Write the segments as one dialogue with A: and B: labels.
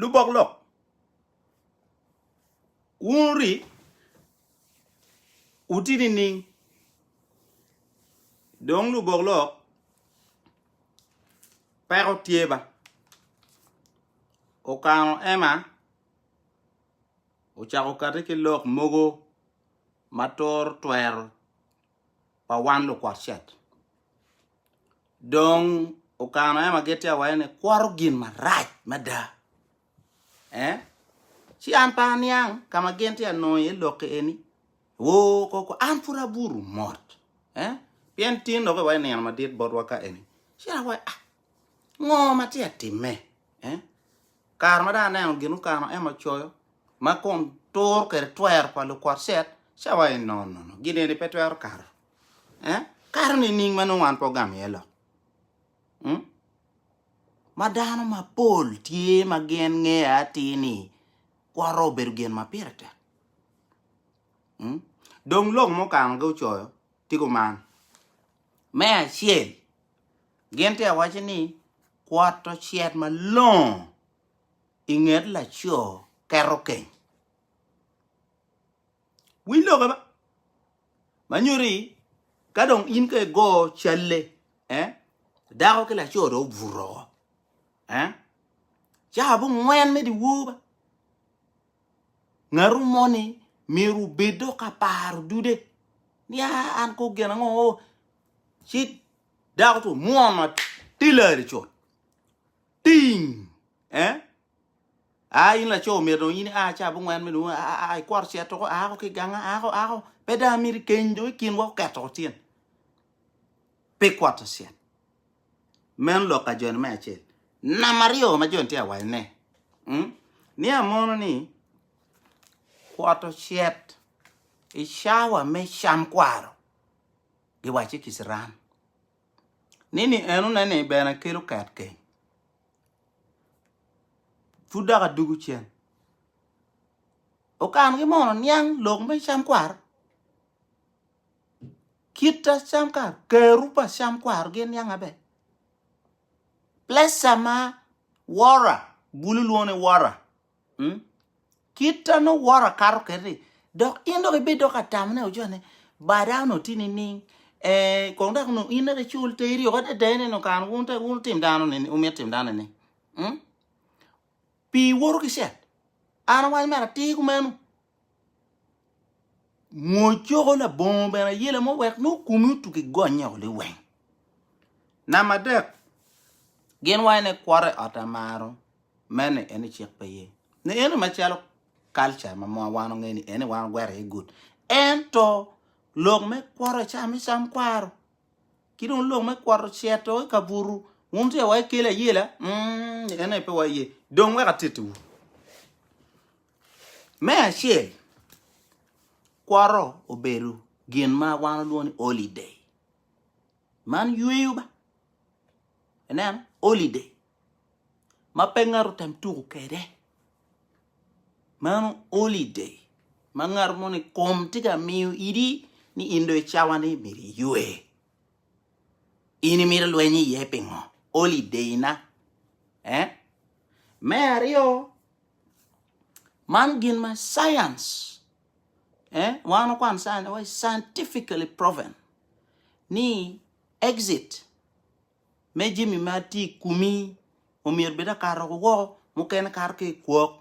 A: Lubok lok, wun ori wuti nining? Dong lubok lok peko tye ba okano ema ocako kati ki lok mogo. ma turo twero pa wan lukwat cet. Dong okano en ma gitti awaye ni kwoto gin marac mada. Eh? Ci an pe aniang ka ma gin ti anongo iye lokki eni. Oo koko an pud aburu mot. Eh? Pien tin dok iwaye nino madit botwa ka eni. Ci an awaye ah ngo ma ti atimme? Eh? Kare ma dong aneno gin Ukano ema ocoyo, ma kun turo kwede twero pa lukot cet, ci awaco ni, No, no, no, gin eni pe twero kato. Eh? Kato nining ma nongo wan pe ogamo iye lok? Hmm? Ma dano mapol tye ma gin ngeya atir ni kwot obedo gin ma pire tek. Hmm? Dong lok ma Ukanogi ocoyo tika man. Me acel, Gin tye awaci ni kwot ocet malongo i nget laco keto keny. Winy loke ba. Ma nyuto ni ka dong in ka igo calle, eh, dako ki laco dong obuto woko. Eh? Ca abongwen me dyewor ba. Ngatu moni myero obed dok ka paro dude ni "Ah, an kong gin ango? ci dako tu mwon atilari cut ting eh a in laco myero dong in a ca abongwen me dong a ikworo ci atoko ako ki ganga ako ako pe dang amiri keny dong i kinwa oketo ko tyen pi kwot ocel meno lok ka joni me acel nama aryo ma joni tye awaco ne ni amono ni kwot ocel i cawa me cam kwaro giwacci ki ciran ni ni enone ni bene kelo ket keng pud dok adugu cen okan ki mono niang lok me cam kwaro kita cam kwaro keru pa cam kwaro gi niang maber pleca ma wora bulu lwongo ni wora Kit an oworo akato kede ni dok in dok ibed dok atam ne ojo ne bada onongo tye nining eh kong dok onongo in dok icul te iryoko adada ne onongo kare wun te wun tim dano ni wumito tim dano ni pi iwoto ki cet an awaco mere atir kumeno Mwocoko labongo bene ayela mo wek nongo kumi otuk i gonnye oko liweng. Namba adek, gin wa ene kwot i ot amaro mene ene cik pe ye. Ni ene macalo culture ma mwa wan onge ni ene wan ogwero iye good. Ento lok me kwot e cam icam kwaro. Ki dong lok me kwot cito i kaburu wun tye wa ikele ayela mm, ene pe wa ye. Dong wek atitiwu. Me acel, kwoto obedo gin ma wan walwongo ni holiday. Man yweyo ba, ineno, holiday ma pe ngat otem tuko kwede. Mano holiday ma ngat mo ni kom tye ka miyo idi ni in dong i cawa ni myero iywe. In imito ilweny iye pingo? Holiday-na. Me aryo Man gin ma science, eh, wan wakwan science ni waci scientifically proven ni exit me jami ma tye i komi omyero bed akato ki woko, mukene kato ki i kwok,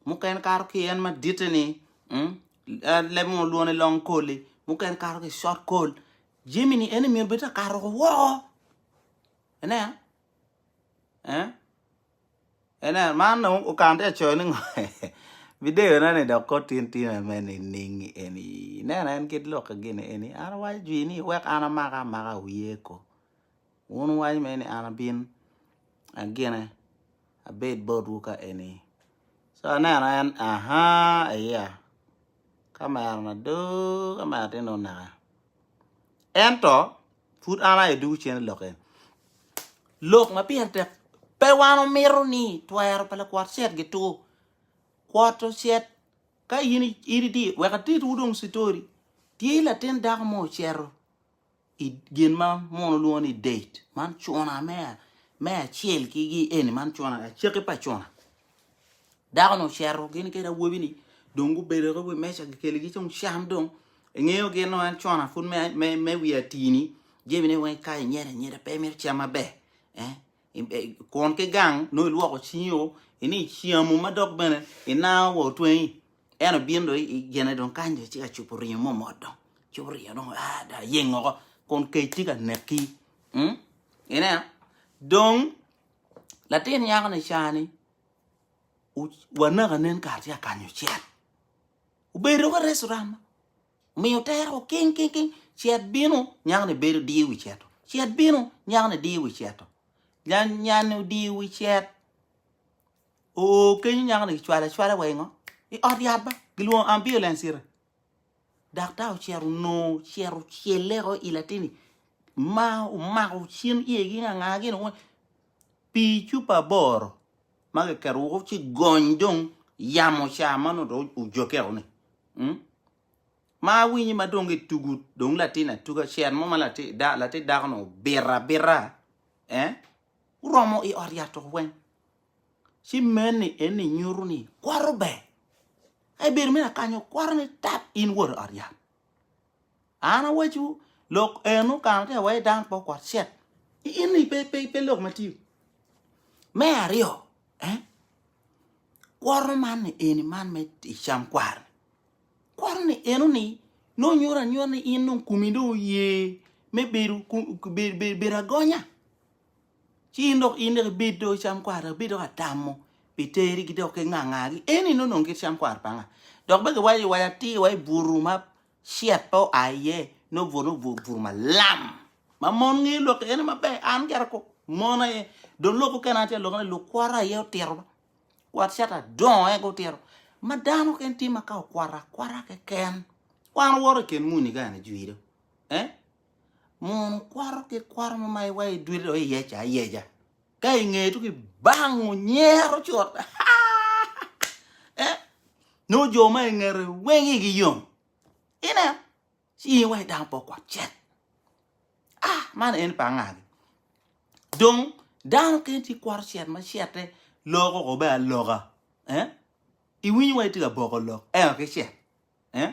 A: mukene kato ki i en maditte ni, mm, en leb mo lwongo ni long cold-li, mukene kato ki i short cold, jami ni en omyero bed akato ki woko. Ineno? Eh? Inen, man dong okan tye ka coyo ni ngo? Bideyo ne ni dok kot tin tin ame nining eni? Ineno en kit lokke gini eni, an awaco jwi ni wek an amake amaka wiye ko. Wun wuwaco mere ni an abin agine abed botwu ka eni. So aneno en ahaa eya kamera na doo kamera tye ni oneke. Ento, pud an aye dwogo cente lok eni. Lok ma pire tek, pe wan omito ni twero pa lakwot cet gitur. Kwot ocet ka in idi, wek atitwu dong citori. Tye latin dako mo ocero i gin ma mono lwongo ni date, man cuna me acel ki gi eni, man cuna, acaki pa cuna. Dako-nu ocito gin kede awobi-ni dong gubedo ki wi meja gikeligi cung cam dong. Ingeyo gin nongo en con-na pud me, me, me wi atini jemine weng ikayo inyeda inyeda pe imito cam maber. Eh? I- eh, Kun ki gang nongo ilwoko cingi o ini icamu ma dok bene inango wa otwengi. En obino dong i- i gine dong kany dong ci ka cubo ringo mo mot dong. Cubo ringo dong ah da yeng oko kun kec tye ka neki. Mm? Ineno? Dong Latin nyako ni cani wanaka nen kar tye akanyo cel. Obedo ka reso rama. Miyo tero king king king. Cet bino nyako ni bedo diyo wi ceto. Cet bino nyako ni diyo wi ceto. Nyan nyan odiyo wi cet. Oo kenyo nyako ni cwale cwale wa ingo. I ot yat ba. Gilwongo ambulance ire. Daktar ocito onongo ocito ocelleko i latini ma omako cin iyegi nganga gin weng pii cupa aboro ma kiketo woko ci gony dong yamo ca ma nongo dong ojokkeo ni mm? ma awinyo ma dong gitugo dong latin atuga cen mo ma lati da- latin dako-nu obito abita eh? guromo i ot yat oko weng Ci meni eni nyuto ni kwato ber. Ka ibedo me lakanyo kwato ni tap in wod ot yat. An awaciwu lok en okano tye iwaci dano pe okwat cet. In ni pe pe pe lok matye. Me aryo, eh, kwato man ni eni man me icam kwar. Kwato ni eno ni no nyuto anyuta ni in dong kumi dong oye me bedo bedo bedo agonya. Ci in dok in dok ibed do cam kwar dok ibed dok atamo pi terigi dok ki ngangagi. Eni nongo nongo kit cam kwar panga. Dok bene giwaco iwaci atir wa i buru ma shit pe oa iye nongo buru nongo buru buru malam ma mon ngeyo lok ene maber an gera ko mon aye dong lok mukene an tye ka lok ni lukwara aye otito ba kwat shit adongo aye gutito ma dano keken tye ma ka okwara akwara keken kwan owoto i ken muni kani jwido eh Mono kwato ki kwato ma ma iwa idwilo iye ca ayeja. Ka ingeye tuki bang onyero cut. Eh, no jo ma ingere weng igi yom. Ine, ci iwa idang po kwat cek. Ah, man en pa ngagi. Dong dano ken ci kwato cet ma cete loko ko be aloka. Eh? Iwinyo wa itye ka boko lok eno ki cet. Eh?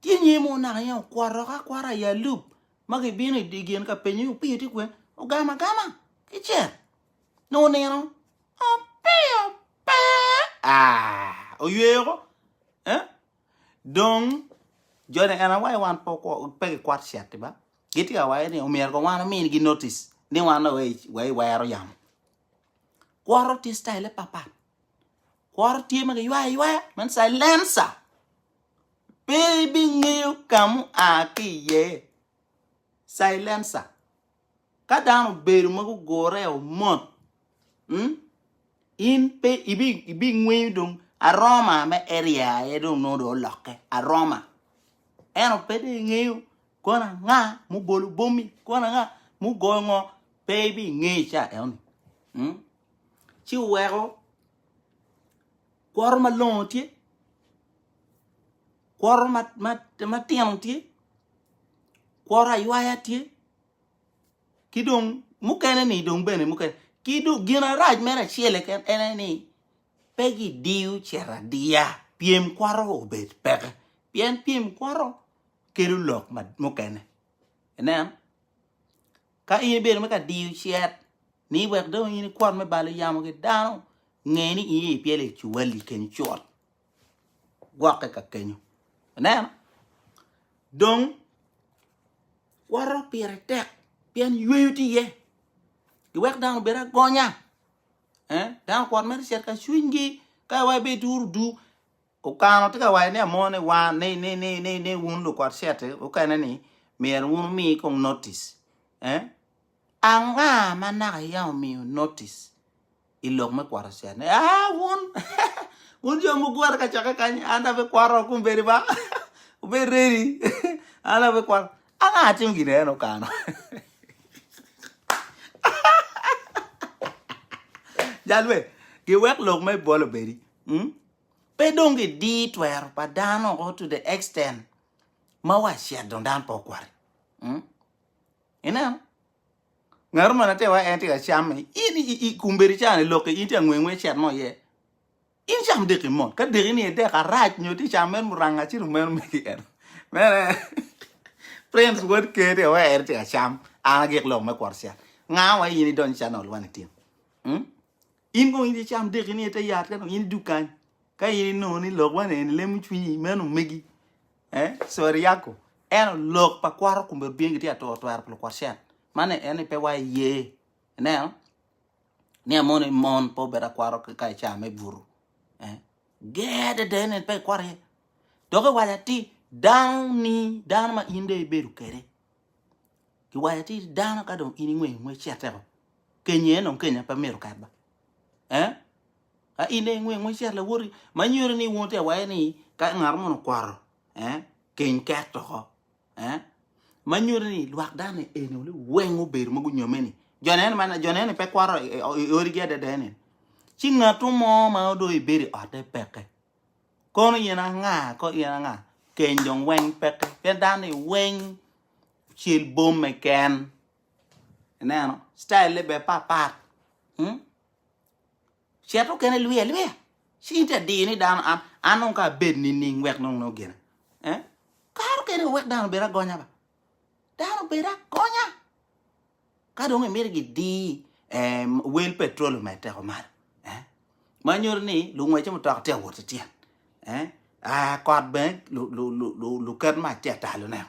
A: Tye nyi mo naka aye okwaroka akwara i alup ma gibino i gen ka penyo ni opiyo tye kwen ogamo agama ki cek nongo nino opiyo pe aa oyweyo ko eh dong joni en aye waco wan pe gikwat cet ba gitye ka waco ni omyero kong wan ominigi notice ni wan dong wa iwero yamo kworo tye cityle papat kworo tye ma giywayo aywaya meno silencer Pe ibingeyo ka mua ki iye. Silencer. Ka dano obedo ma gugure o mot, mm, in pe ibi ibingweyo dong aroma me area aye dong nongo dong olokke. Aroma. Eno pe dong ingeyo kono anga mubolo bomi, kono anga mugoyo ngo, pe ibingeyo ca enoni. Mm. Ci weko Kwoto malongo tye, kwoto matino tye, kwoto aywaya tye, ki dong mukene ni dong bene mukene. Ki dong gin arac mere acel keken en aye ni pe gidiyo cito adiya pyem kwoto obed peke pien pyem kwoto kelo lok mukene. Ineno? Ka in ibedo me ka diyo cet ni wek dong in ikwot me balo yamo ki dano, nge ni in ipyelo i cuwali kenyo cut. Gwokke ka kenyo. Ineno? Dong, kworo pire tek pien yweyo tye iye. Giwek dano obed agonya. Eh? Dano kwot mere cet ka cwinygi ka wa ibe ituro du Okano tye ka waco ni amo ni wa ni ni ni ni ni wun lukot certe mukene ni myero wun wumi kong notice eh? Anga ma naka yam omiyo notice i lok me kwoto certe ni ah wun wun jo mugure kacokke kany an abe kwoto kun bedi ba wubed ready an abe kwoto anga atim gin en okano jal me giwek lok me bol obedi mm? Pe dong gidir twero pa dano o to the extent ma wa shit dong dano pe okwati. Mm. Ineno? Ngatu ma nater wa en tye ka camme. In i, i, i kumbedi cani lokke in tye angwe ngwe shit mo iye. In cam deki mot. Ka deki ni edek arac nyo ti cam men muranga ci dong meno megi en. Mene Prince wod ker tye wa en tye ka cam. An agik lok me kwot shit. Nga wa in idonyo channel wani tim. Mm. In kong in icam deki ni ite yat ka dong in idug kany. Ka in inongo ni lok man en lemo cwinyi meno megi. Eh, sorry yako. Eno lok pa kwaro kumbe odbingi tye atoro twero pa lukwat shen. Mane en ni pe wa iye. Ineno? Ni amon mon po beda kwaro ka ica me buru. Eh, ger dede en en pe ikwaro iye. Dok iwaca ti dano ni dano ma in de ibedo kede. Ki waco ti dano ka dong in ingweyo ngwec ci ateko kenyi en dong kenya pe mito ket ba. Eh? Ka in dong ingweyo ngwec ci lawoti ma nyuto ni wun te waye ni ka ngat mo okwaro eh keny ket toko. Eh? Ma nyuto ni lwak dano eni oli weng obedo ma gunyome ni jo nene man jo nene pe kwaro i odi gi adada ene. Ci ngatu mo ma odo ibedo i otte peke. Kono in anga? Kono in anga? Keny dong weng peke. Pien dano-ni weng ocel bomme ken. Ineno? Style-le bene papat. Hmm? Cet mukene lwiya lwiya. Ci in te diyo ni dano an an nong ka abed nining wek nong nongo gina. Eh? Kare mukene wek dano obed agonya ba. Dano obed agonya. Ka dong imito gidi wel petrol omed teko malo, ma nyuto ni lungwece mutoka tye ka wot ki tyen, kot bene luket mac tye ka talo ne,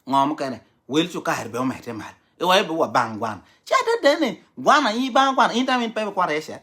A: ngo mukene wel cukari bene omedde malo iwaco ni wabang gwana, ci adede ni gwana in ibang gwana in tam pe ibikwoto iye cet.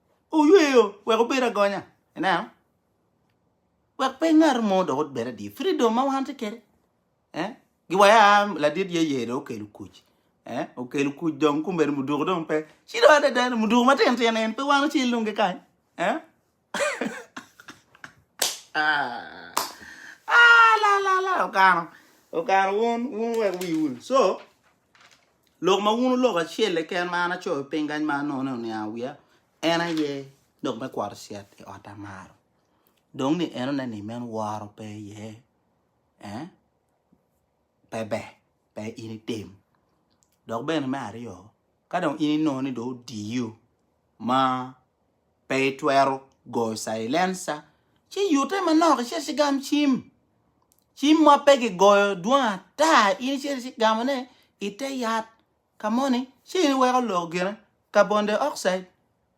A: Oyweyo wek wubed agonya. Ineno? Wek pe ngat mo dok obed adye. Freedom ma wan tye kede. Eh? Giwaya ladit ye ye do okelo kuc. Eh? Okelo kuc dong kumbedo muduku dong pe. Cido adada ni muduku matin tin en pe wan ocel dong kikany. Eh? Ah, ah, la la la okano. Okano wun wun wek wiwu. So, Lok ma wun oloko acel keken ma an acoyo piny kany ma anongo ni oniango wiya, en aye lok me kwaro cet i ot amaro. Dong ni en oneno ni meno woro pe iye, eh? pe ber, pe in itim. Dok bene me aryo, ka dong in inongo ni dong odiyo ma pe itwero goyo cailenca, ci yute manok icit ci gam cim. Cim ma pe gigoyo dwong ata, in icito ci igamone i te yat ka moni ci in iweko lok gine, carbon dioxide,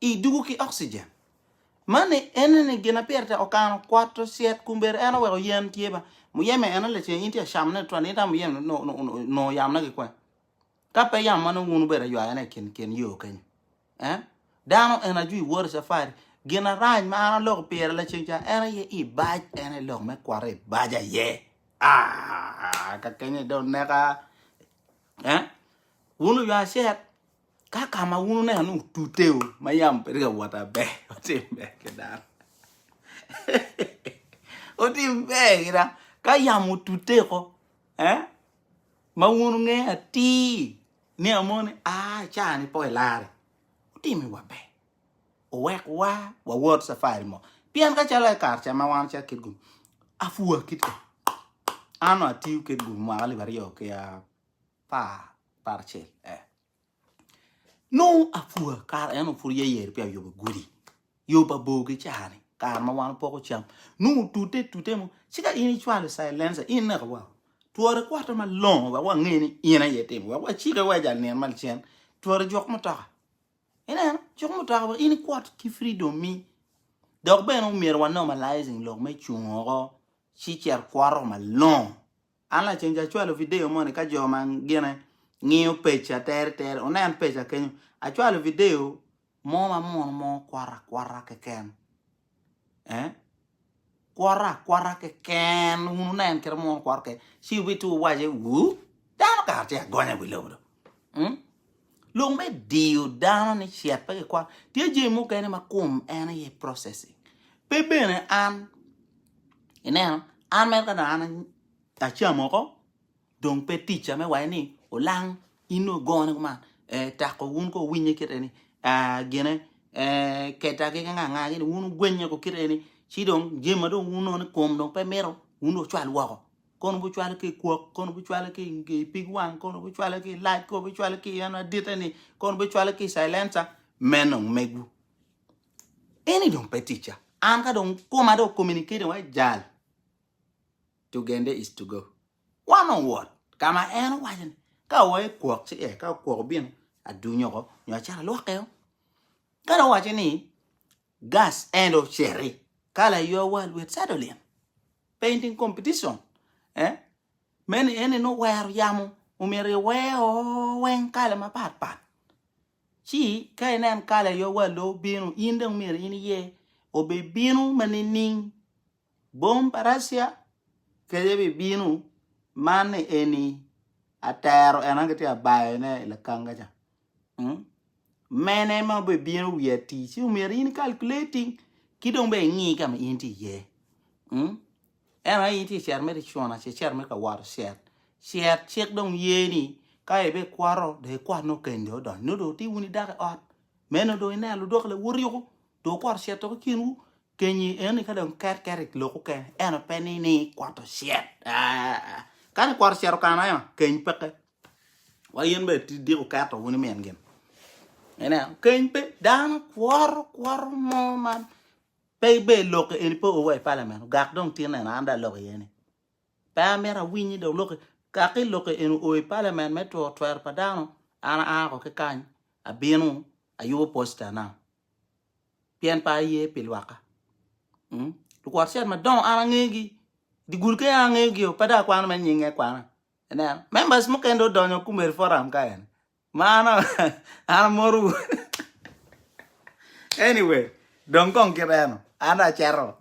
A: i dugu ki oxygen. Mani ene ni gin ma pire tek okano kwot ocet kun bedo en oweko yen tye ba muyeme ene lacen in tye ka camone tutwal in itamo muyeme nongo yamone ki kwen. Ka pe yam ma nongo wun wubedo aywayana i kin kin yo kenyo, eh, dano en ajwi wori cafari, gin arac ma an aloko pire lacen ca en aye i bac, en aye lok me kwaro i bac aye. Ah, ka kenyo dong neka, eh, wun oywa acet, ka ka ma wun oneno ni otuteu ma yam bedo ka wot aber, otim ber ki dano. otim ber ki dano. Ka yam otuteko, eh, Ma wun wunge atir ni Amoni a i caa-ni po elarre, wutimi wa ber, wuwek wa wawot cafari mo, pien ka calo ekar ca ma wan ocek kit gum apua kit ka, an nongo atiyo kit gum mwaka lib aryo ki apar acel. Nongo apua kare en pud yeyere pi ayobo gudi yo pa bor ki cani kare ma wan poko cam nongo tute tute mo ci ka in icwalo silencer in neka wa twore kwate malongo wek wange ni in aye itimo wek wacike wa ijal nino ma lacen twore juk mutoka ineno juk mutoka wek in ikwot ki freedom mi dok bene omyero wa normalizing lok me cung oko ci cit kwoto malongo An lacen ca acwalo vidio moni ka jo ma gine ngiyo peca tere tere onen peca kenyo. Acwalo vidio mo ma mono mo kwota akwota keken. Eh? Kwota akwota keken wun wunen kite mono kwota keken. Ci wubitye wuwace, wuu, dano kara tye agonya i wi lobo do. Mm? Lok me diyo dano ni cet pe kikwano. Tye jami mukene ma kum en aye processing. Pe bene an, ineno, an mere ka dong an acamo oko, dong pe ticca me waye ni olang in dong ogone kuman. Eh, tako wun ko winye kite ni, ah, gine, eh, keta ki nga nga gini, wun ogwenye ko kite ni, ci dong jami ma dong wun ono ni kum dong pe mito, wun dong ocwal woko. Kono bucwale ki i kwok, kono bucwale ki i pig wang, kono bucwale ki i lac, kono bucwale ki i en adite-ni, kono bucwale ki i silenca, me nongo megwu. Eni dong pe ticca. An ka dong koma dong communicating wa jal, Tugende is to go. Wan owot ka ma en owaco ni ka oa i kwok ci ee, ka kwok obino adunyo oko nyo acito alwoke o. Ka dong owaco ni Gas and Oceri, Kala Your World with Sadolin, Painting Competition, eh, meno en ni nongo wero yamo omyero iwer o weng kala mapat pat. Ci ka inen Kala Your World dong obino, in dong myero in iye obibino ma nining? Bom pa Russia kece bibino, man ni eni atero en an gitye abayone i lakanga ca. Mene ma obibino wi atir? Ci omyero in icalculating ki dong be ingi ka ma in tye iye. Ento aye in tye cer mere icuna ce cer mere ka wato cer. Cer cik dong ye ni ka ibe kwato dong ikwat nongo keni dong odonyo nongo dong iti wun idako i ot. Meno dong ineno ludok lawoti yoko dong okwato cer tok i kinwu. Kenyi eni ka dong ket ket i lok okene ento pe ni ni ikwato cer aah. Kani ikwato cer okana ema keny peke. Wa in bene tidyeko keto wun i min gin. Ineno, keny pe dano kworo kworo mo ma pe ibe ilokke eni pe owa i palamen ogak dong tin neno an dong alok iye ni. Pe amito awiny ni dong lokke kaki lokke eni o i palamen me two twero pa dano an aa ko ki kany abino ayubo posta na pien pe aye pi lwakka. Mm? Lukwot cet madongo an angegi. Digul ke an angegio pe dong akwano mere nyinge akwana. Ineno, members mukene dong odonyo kumeri forum ka en. Ma an an amoru. Anyway, dong kong kit eno. An dong aceto.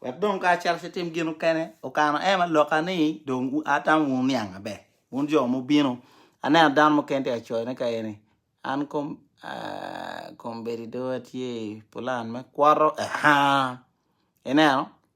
A: Wek dong ka acel ci tim gin okene. Okano ema loka ni dong u- atamo wun niang maber. Wun jo mubino. Aneno dano mukene tye ka coyone ka eni. An kom ah, kombedi do atye i pulan me kwoto. Aha. Ineno?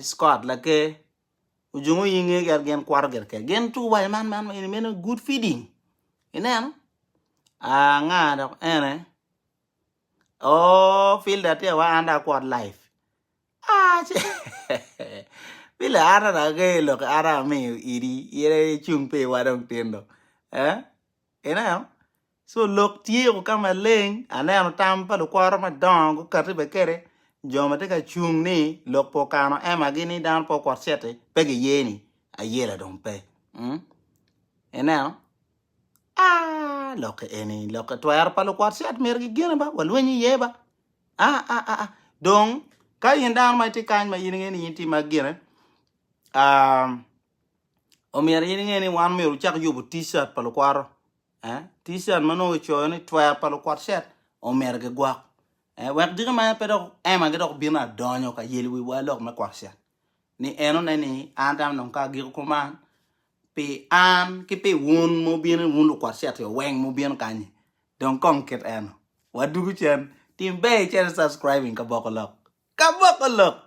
A: Scott laker ojungo i nge gin gin kwato gire keken gin tuku waco man man eni meno good feeding ineno aa anga dok ene ooh filda tye wa an dong akwot life aa ce eeh filda an dong angeyo lok ki an dong amiyo idi in aye icung piwa dong tin do eeh Ineno? Co lok tye o ka maleng, aneno tam pa lukworro madongo gukati bene kede jo ma tye ka cung ni lok pe okano emagi ni dano pe okwot cit-ti, pe giye ni ayela dong pe. mm Ineno? Aa, lok-ki eni, lok-ki twero pa lukwot cit myero gigine ba, walweny iye ba. Aa, dong ka in dano ma itye kany ma in inge ni in tye ma gine, aa, Omyero in inge ni wan omyero wucak yubu t-shirt pa lukwaro. Eh? T-shirt ma nongo kicoyo ni twer pa lukwat shirt omyero gigwok. Eh? Wek diki ma pe dok ema gi dok bino adonyo ka yel wi wa lok me kwat shirt. Ni en one ni an tam nongo ka agiko kuman pi an ki pi wun mo bino wun lukwat shirt yo weng mo bino kanyi. Dong kong kit eno. Wa dugu cen. Tim ber icen subscribing ka boko lok. Ka boko lok.